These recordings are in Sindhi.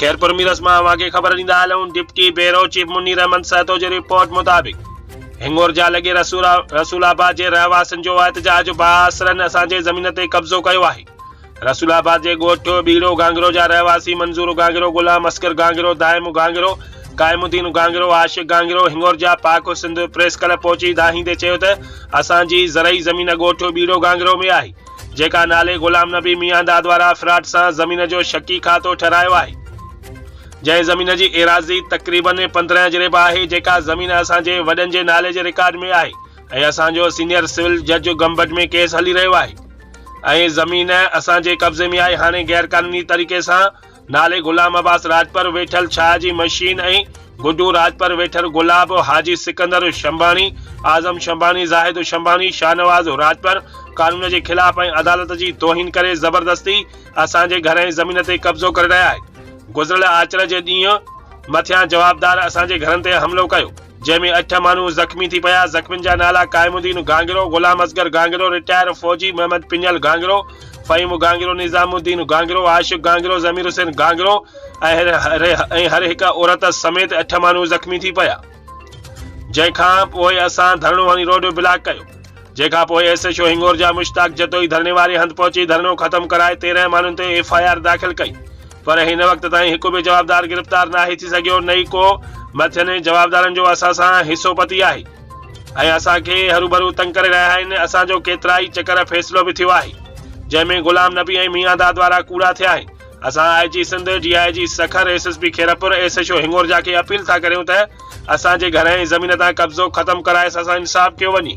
خيرپور ميرس مان اوهان کي خبر ڏيندا هلون deputy bureau chief Munir Ahmed Sahto جي رپورٽ مطابق هنڱورجا لڳي رسول آباد جي رهواسين جو احتجاج بااثرن اسان جي زمين تي قبضو ڪيو آهي رسول آباد جي ڳوٺ ٻيڙو گانگرو جا رهواسي منظور گانگرو غلام اصغر گانگرو دائم گانگرو قائم الدين گانگرو عاشق گانگرو هنڱورجا پاڪ سنڌ پريس ڪلب پهچي دانهيندي چيو ته اسان جي زرعي زمين ڳوٺ ٻيڙو گانگرو ۾ آهي جيڪا نالي غلام نبي ميان دادوارا افراٽ سان زمين جو شڪي کاتو ٺھرايو آھي جنهن زمين جي ايراضي تقريبن پندرهن اجريب آھي جيڪا زمين اسان جي وڏن جي نالي جي رڪارڊ ۾ آھي ۽ اسان جو سينيئر سول جج گمبٽ ۾ ڪيس ھلي رھيو آھي ۽ زمين اسان جي قبضي ۾ آھي ھاڻي غيرقانوني طريقي سان نالي غلام عباس راڄپر ويٺل ڇاهه جي مشين ۽ گڊو راڄپر ويٺل گلاب، حاجي سڪندر شنباڻي، اعظم شنباڻي، زاهد شنباڻي، شاهنواز راڄپر قانون جي خلاف ۽ عدالت جي توهين ڪري زبردستي اسان جي گهر ۽ زمين تي قبضو ڪري رهيا آهن. گذريل آچر جي ڏينهن مٿيان جوابدار اسان جي گهرن تي حملو ڪيو. جنهن ۾ اٺ ماڻهو زخمي ٿي پيا، زخمين جا نالا قائم الدين گانگرو، غلام اصغر گانگرو، رٽائر فوجي، محمد پڃل گانگرو، فهيم گانگرو، نظام الدين گانگرو، عاشق گانگرو، ضمير حسين گانگرو ۽ هر هڪ عورت سميت اٺ ماڻهو زخمي ٿي پيا جنهن کان پوء اسان ڌرڻو هڻي روڊ بلاڪ ڪيو جنهن کان پوء ايس ايڇ او هنگور جا مشتاق جتوئي ڌرڻي واري هنڌ پهچي ڌرڻو ختم ڪرائي تيرنهن ماڻهن تي ايف آء آر داخل ڪئي پر هن وقت تائين هڪ به جوابدار گرفتار ناهي ٿي سگهيو نه ئي ڪو مٿين جوابدارن جو اسان سان حصو پتي آهي ۽ اسان کي هروڀرو تنگ ڪري رهيا آهن اسان جو ڪيترائي چڪر فيصلو به ٿيو آهي جنهن ۾ غلام نبي ۽ ميان داد وارا ڪوڙا ٿيا آهن اسان I G Sindh D I G Sukkur S S P Khairpur S H O Hingorja کي اپيل ٿا ڪريون ته اسان جي گهر ۽ زمين تان قبضو ختم ڪرائي اسان سان انصاف ڪيو وڃي.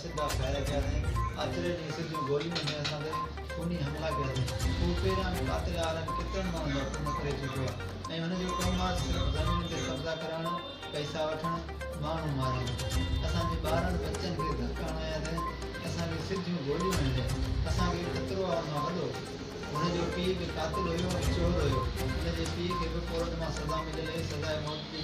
جا ڦيرا ڪياسين، آچري ڏينهن سج جون گوليون ۾ اسان تي خوني حملا ڪياسين، هو پهريان به قاتل آرم ڪيترن ماڻهن جا خون ڪري چڪو آهي ۽ هن جو ڪم آهي صرف زمين تي قبضا ڪرائڻ، پئسا وٺڻ، ماڻهو مارڻ، اسان جي ٻارڙن ٻچن کي ڌڪ هڻاياسين، اسان کي سج جون گوليون هنيون، اسان کي خطرو آهي ان مان وڏو، هن جو پيء به قاتل هيو ۽ چور هيو، هن جي پيء کي به ڪورٽ مان سزا مليل هئي، سزاء موت جي.